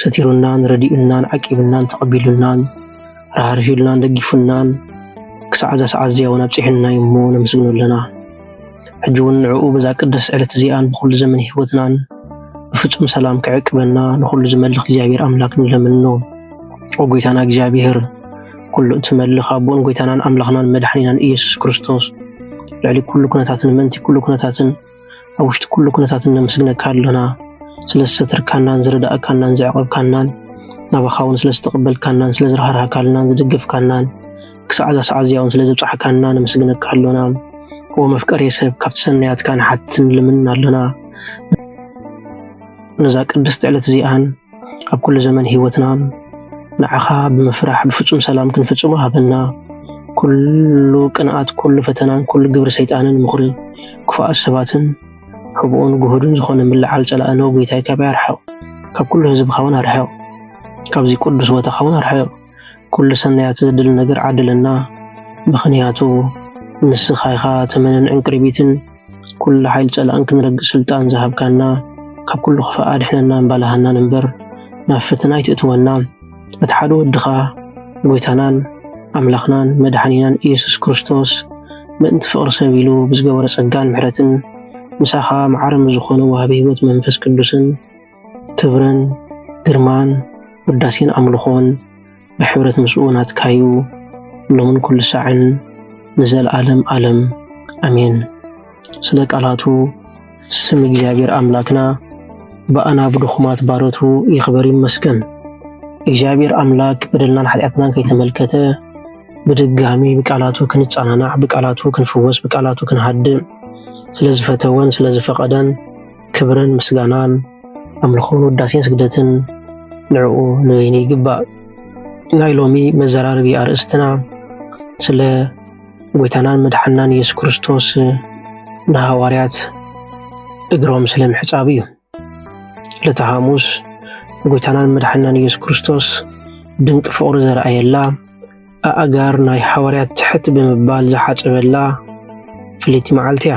ሰቲሩናን ረዲኡናን ዓቂቡናን ተቐቢሉናን ራህሪሁልናን ደጊፉናን ክሳዕ እዛ ሰዓት እዚኣ እውን ኣብፂሑና እዩ እሞ ነመስግኖ ኣለና። ሕጂ እውን ንዕኡ በዛ ቅድስት ዕለት እዚኣን ብኹሉ ዘመን ህይወትናን ብፍጹም ሰላም ክዕቅበና ንኹሉ ዝመልኽ እግዚኣብሔር ኣምላክ ንለምኖ። ኦ ጎይታና እግዚኣብሔር ኩሉ እትመልኽ ኣቦን ጎይታናን ኣምላኽናን መድሓኒናን ኢየሱስ ክርስቶስ ልዕሊ ኩሉ ኩነታትን ምእንቲ ኩሉ ኩነታትን ኣብ ውሽጢ ኩሉ ኩነታት እነመስግነካ ኣሎና ስለ ዝሰተርካናን ዝረዳእካናን ዘዕቆብካናን ናባኻ እውን ስለ ዝተቐበልካናን ስለ ዝረሃርሃካልናን ዝደገፍካናን ክሳዕ እዛ ሰዓት እዚኣ እውን ስለ ዘብጻሕካና ነመስግነካ ኣሎና ኦ መፍቀሬ ሰብ ካብቲ ሰናያትካ ንሓትን ልምን ኣሎና ነዛ ቅድስቲ ዕለት እዚኣን ኣብ ኩሉ ዘመን ህይወትና ንዓኻ ብምፍራሕ ብፍጹም ሰላም ክንፍጽሞ ሃበና። ኩሉ ቅንኣት፣ ኩሉ ፈተናን፣ ኩሉ ግብሪ ሰይጣንን፣ ምኽሪ ክፉኣት ሰባትን፣ ሕቡኡን ግሁድን ዝኾነ ምልዓል ጸላኢ ነው ጐይታይ ካባይ ኣርሕቕ። ካብ ኩሉ ህዝብኻ እውን ኣርሕቕ፣ ካብዚ ቅዱስ ቦታኻ እውን ኣርሕቕ። ኩሉ ሰናያት ዘድል ነገር ዓድለና ምኽንያቱ ንስኻ ኢኻ ተመንን ዕንቅሪቢትን ኩሉ ሓይል ጸላእን ክንረግእ ስልጣን ዝሃብካና ካብ ኩሉ ክፋእ ኣድሕነናን ባላሃናን እምበር ናብ ፈተና ኣይትእትወና እቲ ሓደ ወድኻ ጎይታናን ኣምላኽናን መድሓኒናን ኢየሱስ ክርስቶስ ምእንቲ ፍቕሪ ሰብ ኢሉ ብዝገበሮ ጸጋን ምሕረትን ምሳኻ መዓርም ዝኾኑ ወሃቢ ህይወት መንፈስ ቅዱስን ክብርን ግርማን ውዳሴን ኣምልኾን ብሕብረት ምስኡ ናትካዩ ሎምን ኩሉ ሳዕን ንዘለዓለም ዓለም ኣሜን። ስለ ቃላቱ ስም እግዚኣብሔር ኣምላክና ብኣና ብድኹማት ባሮቱ ይኽበር ይመስገን። እግዚኣብሔር ኣምላክ በደልናን ሓጢኣትናን ከይተመልከተ ብድጋሚ ብቃላቱ ክንጸናናዕ፣ ብቃላቱ ክንፍወስ፣ ብቃላቱ ክንሃድእ ስለዝፈተወን ስለዝፈቐደን ክብርን ምስጋናን ኣምልኾን ውዳሴን ስግደትን ንዕኡ ንበይኑ ይግባእ። ናይ ሎሚ መዘራረቢ ኣርእስትና ስለ ጎይታናን መድሓናን ኢየሱስ ክርስቶስ ንሃዋርያት እግሮም ስለ ምሕፃቡ እዩ። ዕለተ ሐሙስ ጎይታናን መድሓናን ኢየሱስ ክርስቶስ ድንቂ ፍቕሪ ዘርኣየላ ኣእጋር ናይ ሓዋርያት ትሕት ብምባል ዝሓፀበላ ፍልይቲ መዓልቲ እያ።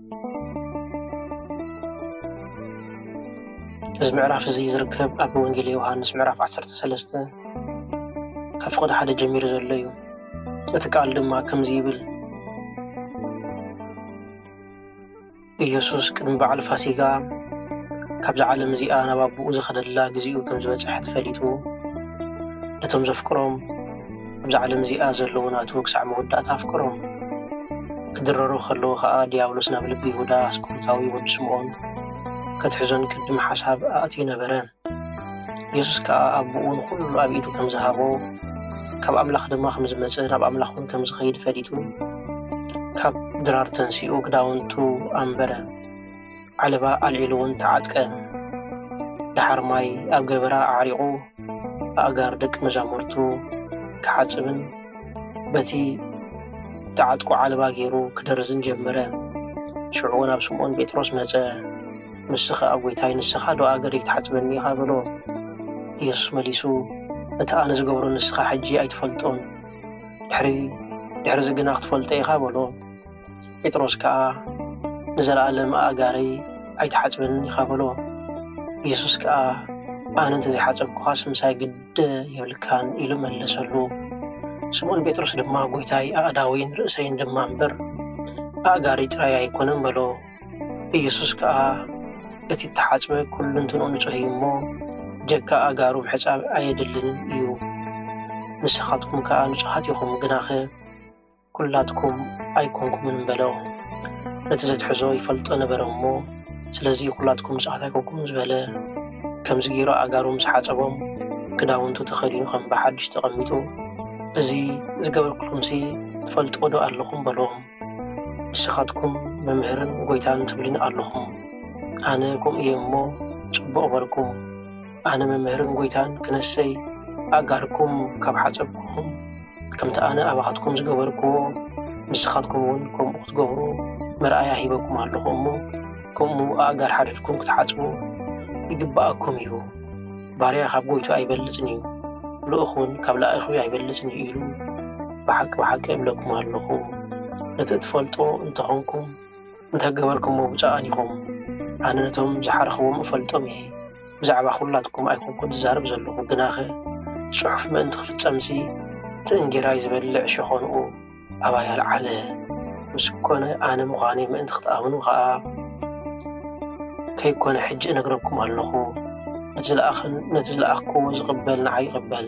እዚ ምዕራፍ እዚ ዝርከብ ኣብ ወንጌል ዮሃንስ ምዕራፍ 13 ካብ ፍቕዲ ሓደ ጀሚሩ ዘሎ እዩ እቲ ቃል ድማ ከምዚ ይብል ኢየሱስ ቅድሚ በዓል ፋሲጋ ካብዛ ዓለም እዚኣ ናብ ኣቦኡ ዝኸደላ ግዜኡ ከም ዝበጽሐት ፈሊጡ ነቶም ዘፍቅሮም ኣብዛ ዓለም እዚኣ ዘለዉ ናቱ ክሳዕ መወዳእታ ኣፍቅሮም። ክድረሩ ከለዉ ከኣ ድያብሎስ ናብ ልቢ ይሁዳ ኣስቆሮታዊ ወዲ ስምዖን ከትሕዞን ቅድም ሓሳብ ኣእትዩ ነበረ። ኢየሱስ ከኣ ኣቦኡ ንኹሉ ኣብ ኢዱ ከም ዝሃቦ ካብ ኣምላኽ ድማ ከም ዝመጸ ናብ ኣምላኽ እውን ከም ዝኸይድ ፈሊጡ ካብ ድራር ተንሲኡ ክዳውንቱ ኣንበረ። ዓለባ ኣልዒሉ'ውን ተዓጥቀ። ደሓር ማይ ኣብ ገበራ ኣዕሪቑ ኣእጋር ደቂ መዛሙርቱ ክሓጽብን በቲ እተዓጥቁ ዓለባ ገይሩ ክደርዝን ጀመረ። ሽዑ ናብ ስምዖን ጴጥሮስ መጸ፣ ንሱ ኸኣ ጐይታይ ንስኻዶ ኣእገረይ ክትሓጽበኒ ኢኻ? በሎ። ኢየሱስ መሊሱ እቲ ኣነ ዝገብሮ ንስኻ ሕጂ ኣይትፈልጦን፣ ድሕሪ ድሕርዚ ግና ክትፈልጦ ኢኻ በሎ። ጴጥሮስ ከኣ ንዘለኣለም ኣእጋረይ ኣይትሓጽበንን ኢኻ በሎ። ኢየሱስ ከኣ ኣነ እንተ ዘይሓጸብኩኻስ ምሳይ ግደ የብልካን ኢሉ መለሰሉ። ስምዖን ጴጥሮስ ድማ ጐይታይ ኣእዳወይን ርእሰይን ድማ እምበር ኣእጋሪ ጥራይ ኣይኮነን በሎ። ኢየሱስ ከኣ እቲ እተሓጽበ ኩሉንትንኡ ንጹሕ እዩ እሞ ጀካ ኣእጋሩ ምሕጻብ ኣየድልንን እዩ። ንስኻትኩም ከኣ ንጹሓት ኢኹም፣ ግናኸ ኩላትኩም ኣይኮንኩምን በሎ። ነቲ ዘትሕዞ ይፈልጦ ነበረ እሞ ስለዚ ኩላትኩም ንጹሃት ኣይኮንኩምን ዝበለ። ከምዚ ገይሩ ኣእጋሩ ምስ ሓጸቦም ክዳውንቱ ተኸዲኑ ከም ብሓድሽ ተቐሚጡ እዚ ዝገበርኩልኩምሲ ትፈልጥዎዶ ኣለኹም በሎም። ንስኻትኩም መምህርን ጎይታን ትብሊኒ ኣለኹም። ኣነ ከምኡ እየ እሞ ጽቡቕ በልኩም። ኣነ መምህርን ጎይታን ክነሰይ ኣእጋርኩም ካብ ሓጸብኩኹም ከምቲ ኣነ ኣባኻትኩም ዝገበርክዎ ንስኻትኩም እውን ከምኡ ክትገብሩ መርኣያ ሂበኩም ኣለኹ እሞ ከምኡ ኣእጋር ሓድድኩም ክትሓጽቡ ይግብኣኩም እዩ ባርያ ካብ ጎይቱ ኣይበልጽን እዩ ልኡኽ እውን ካብ ላእኹ ኣይበልጽን እዩ ኢሉ ብሓቂ ብሓቂ እብለኩም ኣለኹ ነቲ እትፈልጦ እንተኾንኩም እንተገበርኩሞ ብጨቓን ኢኹም። ኣነ ነቶም ዝሓርኽዎም እፈልጦም እየ። ብዛዕባ ኹላትኩም ኣይኮንኩን ዝዛረብ ዘለኹ፣ ግናኸ እቲ ጽሑፍ ምእንቲ ክፍጸምሲ፣ እቲ እንጌራይ ዝበልዕ ሸኾንኡ ኣባይ ኣልዓለ። ምስ ኮነ ኣነ ምዃነይ ምእንቲ ክትኣምኑ ኸኣ ከይኮነ ሕጂ እነግረኩም ኣሎኹ። ነቲ ዝለኣኸን ነቲ ዝለኣኽኩዎ ዝቕበል ንዓይ ይቕበል።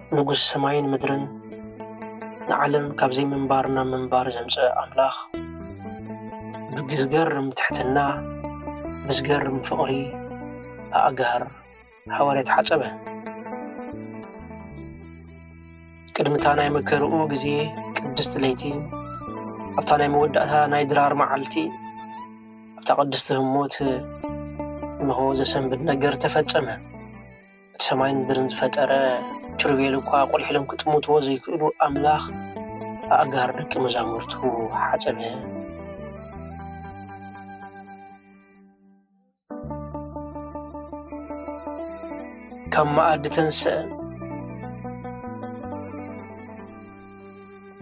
ንጉስ ሰማይን ምድርን ንዓለም ካብ ዘይምንባር ናብ ምንባር ዘምፀ ኣምላኽ ብዝገርም ትሕትና ብዝገርም ፍቕሪ ኣእጋር ሓዋርያት ሓፀበ። ቅድሚታ ናይ መከርኡ ግዜ ቅድስቲ ለይቲ ኣብታ ናይ መወዳእታ ናይ ድራር መዓልቲ ኣብታ ቅድስቲ ህሞት እንሆ ዘሰንብድ ነገር ተፈጸመ። እቲ ሰማይን ምድርን ዝፈጠረ ኪሩቤል እኳ ኣቑሊሒሎም ክጥምትዎ ዘይክእሉ ኣምላኽ ኣእጋር ደቂ መዛሙርቱ ሓጸበ። ካብ መኣዲ ተንስአ።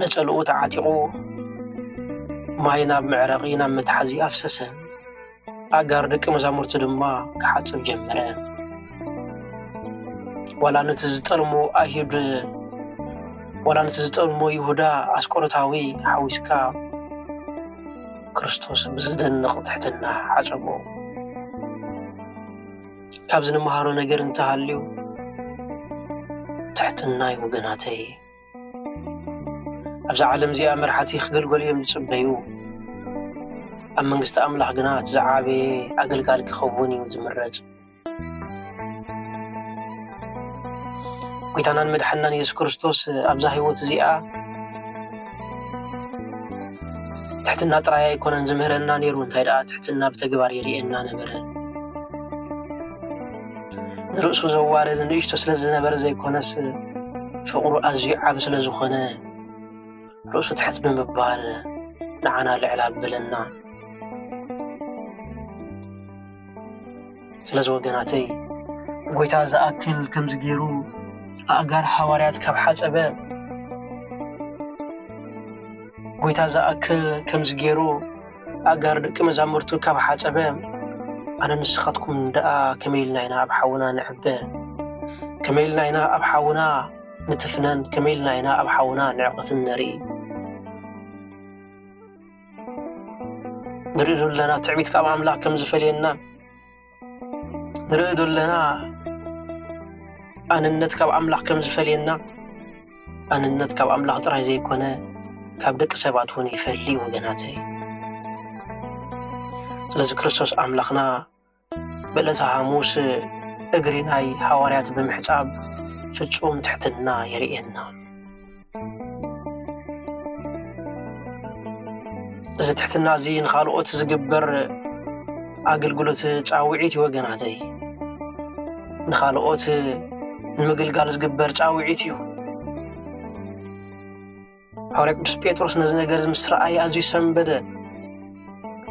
ነጸልኡ ተዓጢቑ ማይ ናብ መዕረቒ ናብ መትሓዚ ኣፍሰሰ። ኣእጋር ደቂ መዛሙርቲ ድማ ክሓጽብ ጀመረ። ዋላ ነቲ ዝጠልሞ ኣይሁድ ዋላ ነቲ ዝጠልሞ ይሁዳ ኣስቆሮታዊ ሓዊስካ ክርስቶስ ብዝደንቕ ትሕትና ሓጸቦ። ካብዚ ንመሃሮ ነገር እንተሃልዩ ትሕትና እዩ ወገናተይ። ኣብዛ ዓለም እዚኣ መራሕቲ ክገልገሉ እዮም ዝፅበዩ ኣብ መንግስቲ ኣምላኽ ግና እቲ ዝዓበየ ኣገልጋሊ ክኸውን እዩ ዝምረፅ ጎይታናን መድሓናን የሱስ ክርስቶስ ኣብዛ ህይወት እዚኣ ትሕትና ጥራይ ኣይኮነን ዝምህረና ነይሩ እንታይ ደኣ ትሕትና ብተግባር የርእየና ነበረ ንርእሱ ዘዋርድ ንእሽቶ ስለ ዝነበረ ዘይኮነስ ፍቕሩ ኣዝዩ ዓብ ስለ ዝኾነ ርእሱ ትሕት ብምባል ንዓና ልዕል ኣበለና ስለዚ ወገናተይ ጎይታ ዝኣክል ከምዚ ገይሩ ኣእጋር ሃዋርያት ካብ ሓፀበ ጎይታ ዝኣክል ከምዚ ገይሩ ኣጋር ደቂ መዛሙርቱ ካብ ሓጸበ ኣነ ንስኻትኩም ደኣ ከመይ ኢልና ኢና ኣብ ሓውና ንዕበ ከመይ ኢልና ኢና ኣብ ሓውና ንትፍነን ከመይ ኢልና ኢና ኣብ ሓውና ንዕቕትን ነርኢ ንርኢ ኣለና ትዕቢት ካብ ኣምላኽ ከም ዝፈልየና ንርኢ ዶ ኣለና ኣንነት ካብ ኣምላኽ ከም ዝፈልየና ኣንነት ካብ ኣምላኽ ጥራይ ዘይኮነ ካብ ደቂ ሰባት እውን ይፈሊ ወገናተይ ስለዚ ክርስቶስ ኣምላኽና በለተ ሃሙስ እግሪ ናይ ሃዋርያት ብምሕጻብ ፍጹም ትሕትና የርእየና እዚ ትሕትና እዚ ንካልኦት ዝግበር ኣገልግሎት ፃውዒት እዩ ወገናተይ ንካልኦት ንምግልጋል ዝግበር ፃውዒት እዩ ሓዋርያ ቅዱስ ጴጥሮስ ነዚ ነገር እዚ ምስ ረኣየ ኣዝዩ ሰንበደ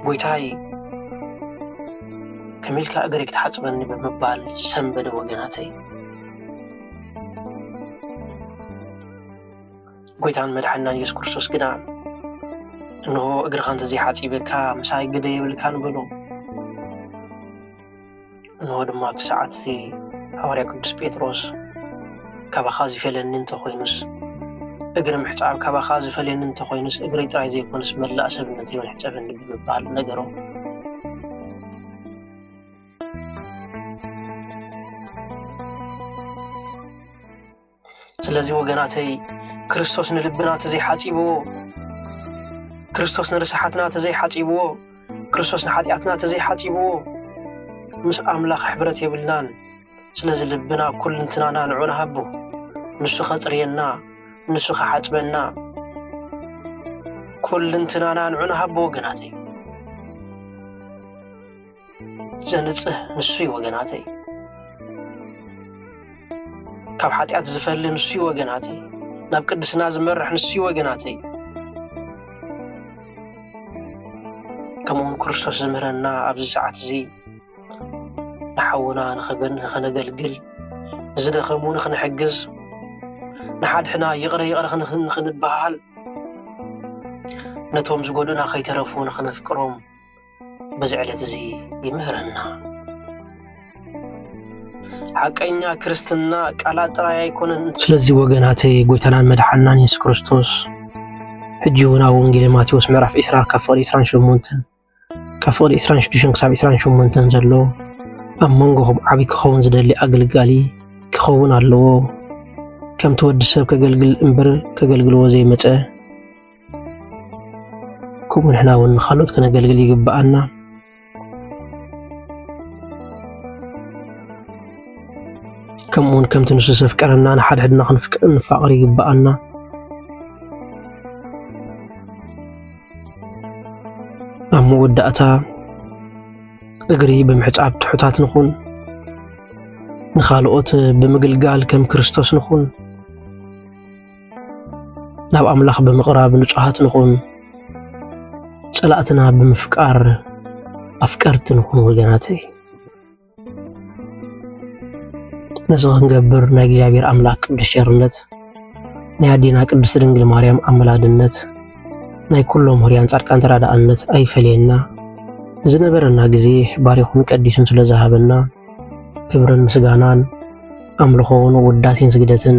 ጎይታይ ከመይ ኢልካ እግረይ ክትሓጽበኒ ብምባል ሰንበደ ወገናተይ ጎይታን መድሓናን የሱስ ክርስቶስ ግና እንሆ እግርኻ እንተዘይሓጺበካ ምሳይ ግደ የብልካን በሎ እንሆ ድማ ኣብቲ ሰዓት እዚ ሃዋርያ ቅዱስ ጴጥሮስ ካባኻ ዝፈልየኒ እንተኾይኑስ እግሪ ምሕፃብ ካባኻ ዝፈልየኒ እንተኾይኑስ እግሪ ጥራይ ዘይኮነስ መላእ ሰብነት እውን ሕፀበኒ ብምባል ነገሮ። ስለዚ ወገናተይ ክርስቶስ ንልብና ተዘይሓጺብዎ ክርስቶስ ንርስሓትና ተዘይሓጺብዎ ክርስቶስ ንሓጢኣትና ተዘይሓጺብዎ ምስ ኣምላኽ ሕብረት የብልናን ስለዚ ልብና ኩልንትናና ንዑ ንሃቦ ንሱ ኸጽርየና ንሱ ኸሓጽበና ኩልንትናና ንዑ ንሃቦ ወገናተይ ዘንጽህ ንሱ እዩ ወገናተይ ካብ ሓጢኣት ዝፈሊ ንሱ እዩ ወገናተይ ናብ ቅድስና ዝመርሕ ንሱ እዩ ወገናተይ ከምኡውን ክርስቶስ ዝምህረና ኣብዚ ሰዓት እዚ ንሓውና ንኸነገልግል ንዝደኸሙ ንኽንሕግዝ ንሓድሕና ይቕረ ይቕረ ንኽንበሃል ነቶም ዝጎድኡና ከይተረፉ ንኽነፍቅሮም በዚ ዕለት እዚ ይምህረና። ሓቀኛ ክርስትና ቃላት ጥራይ ኣይኮነን። ስለዚ ወገናተይ ጎይታናን መድሓናን የሱስ ክርስቶስ ሕጂ እውን ኣብ ወንጌል ማቴዎስ ምዕራፍ 20 ካብ ፍቕዲ 28 ካብ ፍቕዲ 26 ክሳብ 28 ዘሎ ኣብ መንጎ ዓብዪ ክኸውን ዝደሊ ኣገልጋሊ ክኸውን ኣለዎ ከምቲ ወዲ ሰብ ከገልግል እምበር ከገልግልዎ ዘይመፀ ከምኡ ንሕና እውን ንኻልኦት ከነገልግል ይግብኣና። ከምኡ እውን ከምቲ ንሱ ዘፍቀረና ንሓድሕድና ክንፋቐር ይግብኣና። ኣብ መወዳእታ እግሪ ብምሕፃብ ትሑታት ንኹን፣ ንኻልኦት ብምግልጋል ከም ክርስቶስ ንኹን። ናብ ኣምላኽ ብምቕራብ ንጹሃት ንኹን፣ ጸላእትና ብምፍቃር ኣፍቀርቲ ንኹን ወገናተይ። ነዚ ክንገብር ናይ እግዚኣብሔር ኣምላክ ቅዱስ ቸርነት፣ ናይ ኣዴና ቅድስት ድንግል ማርያም ኣመላድነት፣ ናይ ኩሎም ሁርያን ጻድቃን ተራዳእነት ኣይፈለየና። ዝነበረና ግዜ ባሪኹን ቀዲሱን ስለ ዝሃበና ክብርን ምስጋናን ኣምልኾውን ውዳሴን ስግደትን